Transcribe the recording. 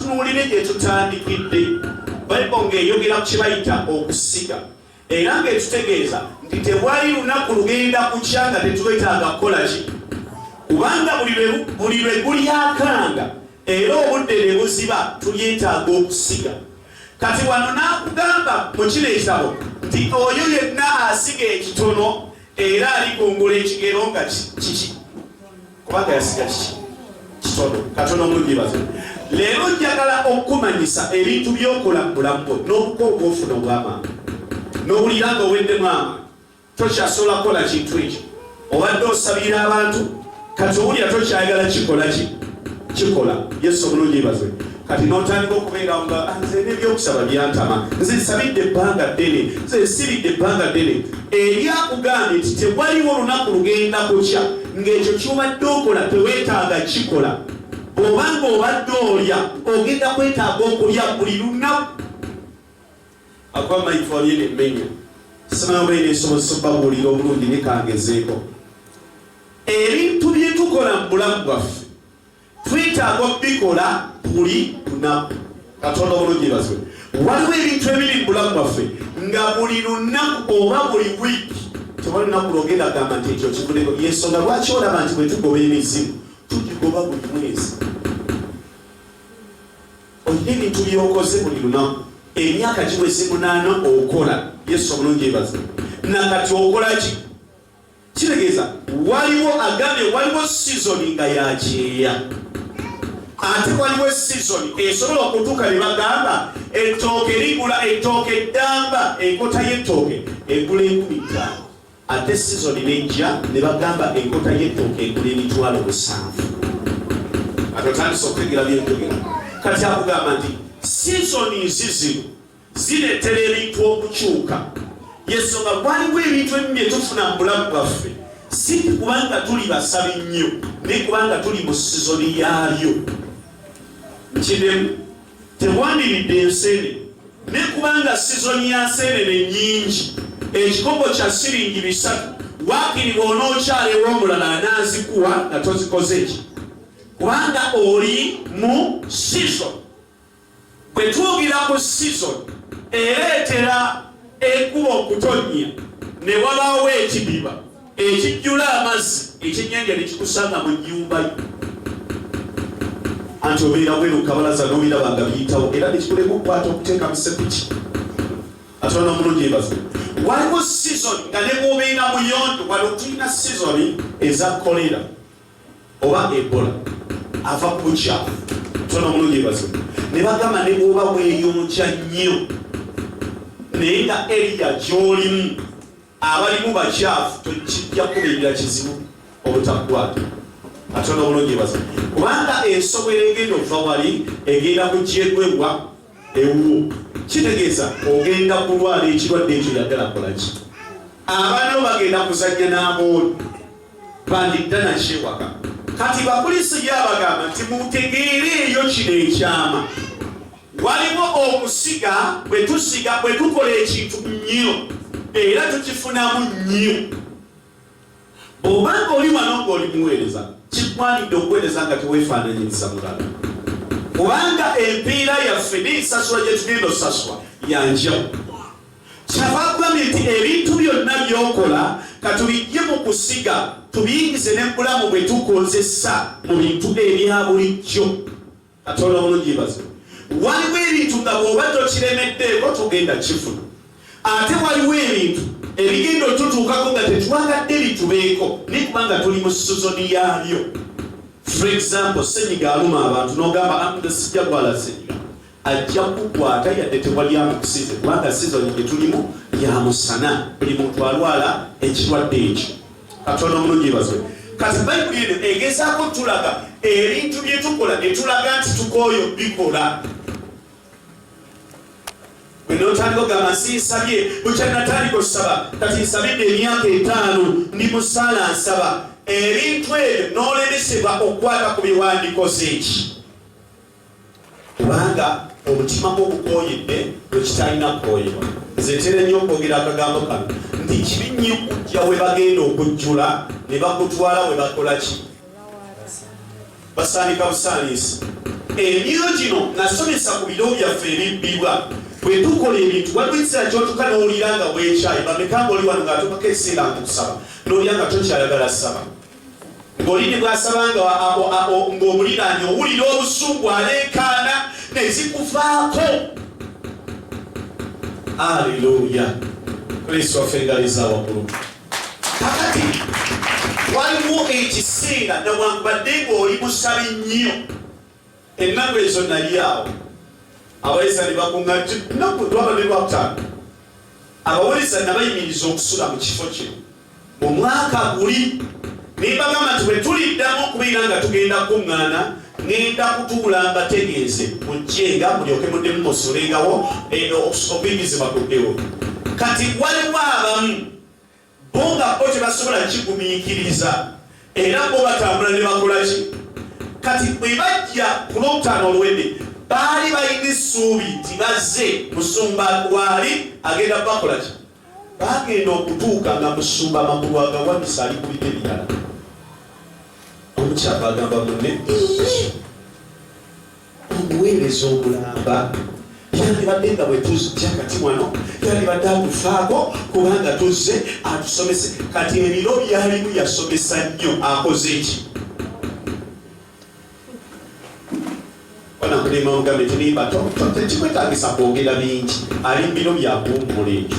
tunuulire gye tutandikidde bayibuli ng'eyogera ku kibayita okusiga era ng'ekitegeeza nti tewali lunaku lugenda kukya nga tetubetaaga kukola ki kubanga buli lwe gulyakanga era obudde ne buziba tulyetaaga okusiga kati wano n'akugamba mu kino ekitabo nti oyo yenna asiga ekitono era alikungula ekigero nga kiki kubanga yasiga kiki kitono katono munyibaze leero njagala okukumanyisa ebintu byokola mu bulamu bwo n'obuka obwofuna obwamaanyi n'owulira nga oweddemu amaanyi tokyasobola kukola kintu ekyo obadde osabira abantu kati owulira tokyayagala kikola ki kikola yesu omulungi baze kati notandika okubeera nga ah, nze nebyokusaba byantama nze nsabidde ebbanga ddene nze nsibidde ebbanga ddene eri akugambye nti tewaliwo olunaku lugenda kukya ng'ekyo kyobadde okola tewetaaga kikola oba ng'obadde olya ogenda kwetaaga okulya buli lunaku akuba mayifolie nemmenya simanaba ena esobozesa okubabuulira obulungi nekangezeeko ebintu byetukola mu bulamu bwaffe twetaaga okubikola buli lunaku katonda obulungi ebazibwe waliwo ebintu ebiri mu bulamu bwaffe nga buli lunaku oba buli wiiki tewali lunaku lwogenda gamba nti ekyo kivudeko yensonga lwaki olaba nti bwetugoba emizimu tugigoba buli mwezi olina ebintu byokoze buli lunaku emyaka giweze munaana okola yesu obulungi ebazibwe nakati okolaki kitegeeza waliwo agambye waliwo sizoni nga yakyeya ate waliwo esizoni esobola okutuuka ne bagamba ettooke ligula ettooke eddamba enkota y'ettooke egula enkumi ttaano ate sizoni nejja ne bagamba enkota y'ettooke egula emitwalo musanvu atotandisa okutegera byenjogera kati akugamba nti sizoni nzizino zireetera ebintu okukyuka yensonga gwaliwo ebintu ebimu bye tufuna mu bulamu bwaffe si kubanga tuli basabi nnyo naye kubanga tuli mu sizoni yaabyo kidemu tewandiridde enseene naye kubanga sizoni ya nseenene nyingi ekikopo kya siringi bisatu wakiri bw'onookyala ew'omulala anaazikuwa nga tozikoze ki kubanga oli mu sizoni Bwe twogera ku sizoni ereetera enkuba okutonnya ne wabaawo ekidiba ekijjula amazzi ekyennyanja ne kikusanga mu nnyumba yo anti obeera bweru kabalaza n'obiraba nga biyitawo era ne kikulema okukwata okuteeka mu sepiki atwala omulungi ebazi waliwo sizoni nga ne bwobeera muyonjo wali otulina sizoni eza kolera oba ebola ava ku bukyafu tona omulungi ebazo ne bagamba ne bwoba bweyonja nnyo naye nga eriya gyolimu abalimu bakyafu tokijja kubingira kizibu obutakwata atona omulungi ebazo kubanga ensobola egenda ova wali egenda kugyegwebwa ewuwo kitegeeza ogenda kulwala ekirwadde ekyo yaddala kolaki abaana bo bagenda kuzajja n'amooli bandidda nakyewaka kati bakulisi byabagamba nti mutegeere eyo kino ekyama waliwo okusiga bwe tusiga bwe tukola ekintu nnyo era tukifunamu nnyo Bw'oba ng'oli wano ng'oli muweereza, kikwanidde okuweereza nga teweefaananyiriza mulala, kubanga empeera yaffe n'ensasula gye tugenda osasulwa ya njawulo. Kyava agambye nti ebintu byonna by'okola ka tubiggye mu kusiga tubiyingize ne mu bulamu bwe tukozesa mu bintu ebya bulijjo. katonda mulungi yebaze waliwo ebintu nga bwoba tokiremeddeeko tugenda kifuna ate waliwo ebintu ebigenda otutuukako nga tetwagadde bitubeeko naye kubanga tuli mu sizoni yaabyo for example senyiga aluma abantu nogamba amda sijja gwala senyiga ajja kukwata yadde tewali amukusize kubanga sizoni gyetulimu yamusana buli muntu alwala ekirwadde ekyo katonda omulungi yebazwe kati bayibuli eno egezaako tulaga ebintu byetukola netulaga nti tukooyo bikola enotandika ogamba nsi nsabye bukya natandika okusaba kati nsabidde emyaka etaano ndi musaala nsaba ebintu ebyo nolemesebwa okukwata ku biwandikoze eki kubanga omutima gwo gukooyedde bwe kitalina kukooyebwa nze ntera nnyo okwogera akagambo kano nti kibi nnyo okujja we bagenda okujjula ne bakutwala we bakola ki basaanika busaaniisi emyoyo gino nasomesa ku biro byaffe ebibbibwa bwe tukola ebintu waliwo ekiseera kyotuka n'owulira nga bwekyayi bameka nga oli wano ng'atukako ekiseera nkukusaba n'olya nga tokyayagala saba olini bwasabanga ng'omuliraanye owulira obusungu aleekaana ne zikuvaako aleluya kristo waffe ngaliza waggulu kakati waliwo ekiseera nawankubadde ng'oli musabi nnyo ennaku ezo nali awo abayiza ne bakuŋŋa nti nnaku twabadde lwakutaano abawuliza nabayimiriza okusula mu kifo kino mu mwaka guli nembagamba nti bwe tuliddamu okubeera nga tugenda kukuŋŋaana ngenda kutuula mbategeeze mujjenga mulyoke muddemu musulengawo eh, okuyimizibwa kuddewo kati waliwo abamu bo nga bo tebasobola kigumiikiriza era bo batambula ne bakola ki kati bwe bajja ku lwokutaano oluwedde baali balina essuubi nti bazze musumba waali agenda bakola ki bagenda okutuuka nga musumba amakulu agawanisa ali kulita ebirala omukyapa agamba munne obuweereza obulamba yandibadde nga bwetuzja kati wano yandibadde atufaako kubanga tuzze atusomese kati ebiro byalimu yasomesa nnyo akoze eki banakulima ogambe tulimba tekikwetagisa kwogera bingi ali mu biro byakuwummula ekyo